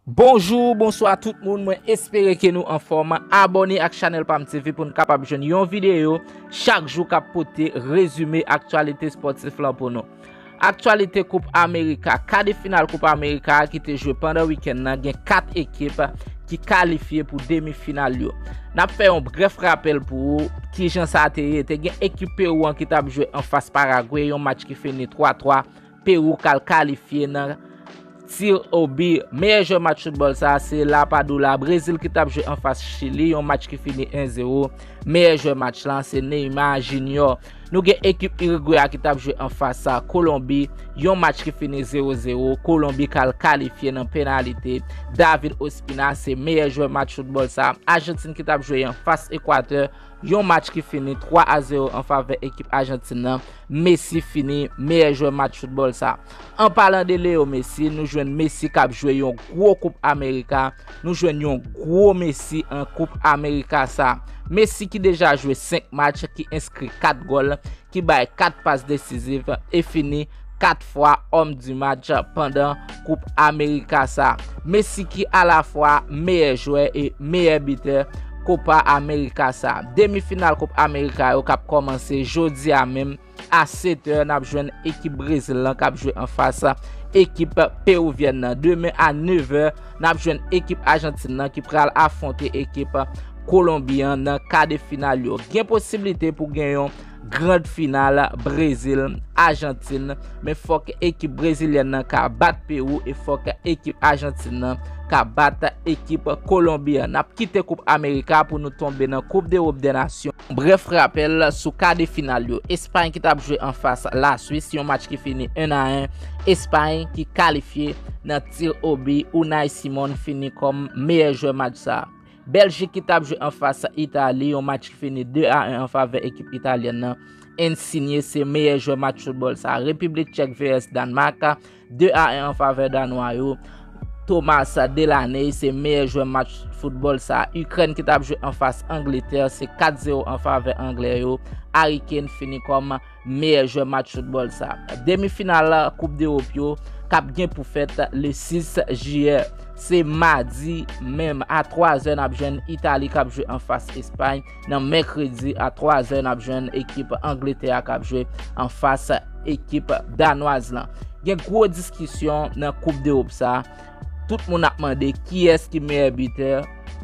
Bonjour bonswa tout moun mwen espere ke nou anfòm abòne ak chanèl pam TV pou nou kapab jwenn yon videyo chak jou kap pote rezime aktyalite spòtif lan pou nou aktyalite koup amerika kade final koup amerika ki te jwe pandan wikèn nan gen 4 ekip ki kalifye pou demi final yo nap fè yon bref rapèl pou ou kijan sa te ye te gen ekip Peru an ki tap jwe anfas paragwe yon match ki fini 3 3. Perou kal kalifye nan Tir au but Meyè jwè match foutbòl sa se La Padula Brezil ki tap jwe anfas Chili yon match ki fini 1 0 Meyè jwè match lan se Neymar Junior Nou gen ekip Uruguay a ki tap jwe anfas sa Kolonbi yon match ki fini 0 0 Kolonbi kal kalifye nan penalite David Ospina se meyè jwè match foutbòl sa Argentine ki tap jwe anfas Equateur Yon match ki fini 3 a 0 an favè ekip Ajantin nan, Messi fini meyè jwè match foutbòl sa. An palan de Leo Messi, nou jwenn Messi kap jwe yon gwo koup Amerika, nou jwenn yon gwo Messi an koup Amerika sa. Messi ki deja jwe 5 match, ki enskri 4 gòl, ki bay 4 pas desiziv e fini 4 fwa Homme du Match pandan Koup Amerika sa. Messi ki alafwa meyè jwè e meyè bitè Kopa Amerika sa. Demi final Koup Amerika yo kap kòmanse jodi a menm a 7 è nap jwenn ekip Brezil lan kap jwe anfas ekip Peruvienne nan. Demen a 9 è. n ap jwenn ekip Ajantin nan ki pral afwonte ekip Kolonbi an nan ka de final yo. Gen posiblite pou gen yon grand final Brezil, Ajantin, men fòk ekip Brezilyèn nan ka bat Pewou e fòk ekip Ajantin nan ka bat ekip Kolonbi an. N ap kite koup Amerika pou nou tonbe nan koup dErop dè Nasyon. Brèf rapèl sou ka de final yo. Espay ki t ap jwe anfas Laswis, yon match ki fini 1 a 1, Espay ki kalifye nan. Tir au but, Unai Simon fini kòm meyè jwè match sa. Bèljik ki tap jwe anfas Itali, yon match ki fini 2 a 1 anfavè ekip Italyèn nan, Insigne se meyè jwè match foutbòl sa. Repiblik Tchèk vs Dànmak, 2 a 1 anfavè Danwa yo, Thomas Delaney se meyè jwè match foutbòl sa. Ikrèn ki tap jwe anfas Angletè, se 4 0 anfavè Anglè yo, Harry Kane fini kòm. meyè jwè match foutbòl sa. Demi final koup dewop yo kap gen pou fèt le 6 jiyè. Se madi menm a 3 zè nap jwenn Itali kap jwe anfas Espay nan mèkredi a 3 zè nap jwenn ekip Angletè a kap jwe anfas ekip Danwaz lan. Gen gwo diskisyon nan koup dewop sa. Tout moun ap mande kiyès ki meyè bitè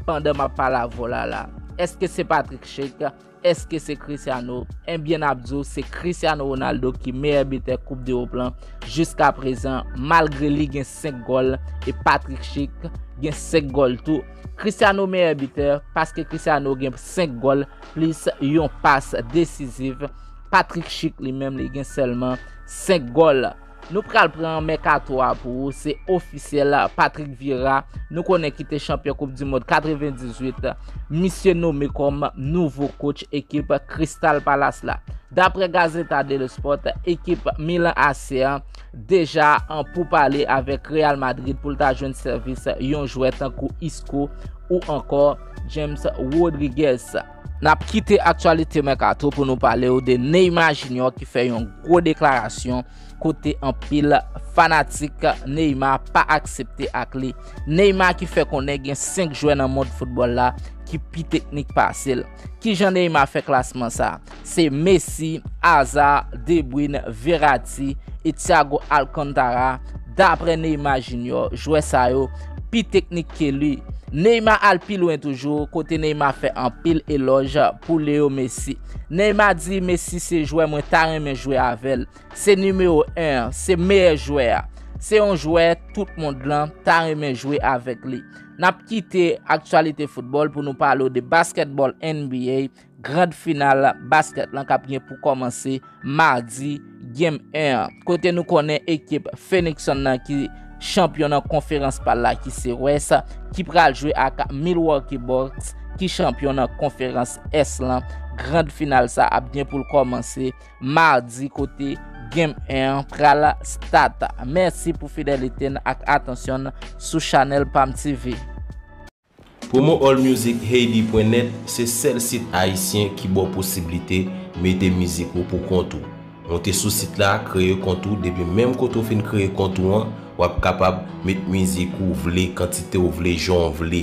pandan map pale avw la la. Eske se Patrick Schick Eske se Cristiano? Enbyen nap di w se Cristiano Ronaldo ki meyè bitè koup dewop lan jiska prezan malgre li gen 5 gòl e Patrick Schick gen 5 gòl tou. Cristiano meyè bitè paske Cristiano gen 5 gòl plis yon pas desiziv, Patrick Schick li menm li gen sèlman 5 gòl. Nou pral pran mèkato a pou ou se ofisyèl Patrick Vieira nou konnen ki te chanpyon koup di mond 98 misye nome kòm nouvo kotch ekip Crystal Palace la Daprè Gazeta dello Sport ekip Milan AC an deja an pou pale avèk Real Madrid pou l ta jwenn sèvis yon jwè tankou Isco ou ankò James Rodriguez. Nap kite aktyalite mèkato pou nou pale ou de Neymar Junior ki fè yon gwo deklarasyon kote anpil fanatik Neymar pa aksepte ak li. Neymar ki fè konnen gen 5 jwè nan mond foutbòl la ki pi teknik pase l. Kijan Neymar fè klasman sa? Se Messi, Hazard, De Bruyne, Verratti e Thiago Alcantara. Daprè Neymar Junior, jwè sa yo pi teknik ke li. Neymar al pi lwen toujou, kote Neymar fè anpil elòj pou Leo Messi. Neymar di Messi se jwè mwen ta renmen jwe avè l, se nimewo 1 an, se meyè jwè a. Se yon jwè tout mond lan ta renmen jwe avèk li. Nap kite aktyalite foutbòl pou nou pale w de basketball NBA Grand final basket lan kap gen pou kòmanse Mardi Game 1 an. Kote nou konnen ekip Phoenix Sun nan ki chanpyon nan konferans pal la ki se West ki pral jwe ak Milwaukee Bucks ki chanpyon nan konferans Est lan. Grand final sa ap gen pou l kòmanse Mardi kote Game 1 an pral start. Mèsi pou fidelite n ak atansyon n sou chanèl Pam TV. Promo all music haiti pwen nèt se sèl sit ayisyen ki ba w posiblite mete mizik ou pou kont ou. Monte sou sit la, kreye kont ou depi menm kote w fin kreye kont ou an, w ap kapab met mizik ou vle, kantite w vle, jan w vle.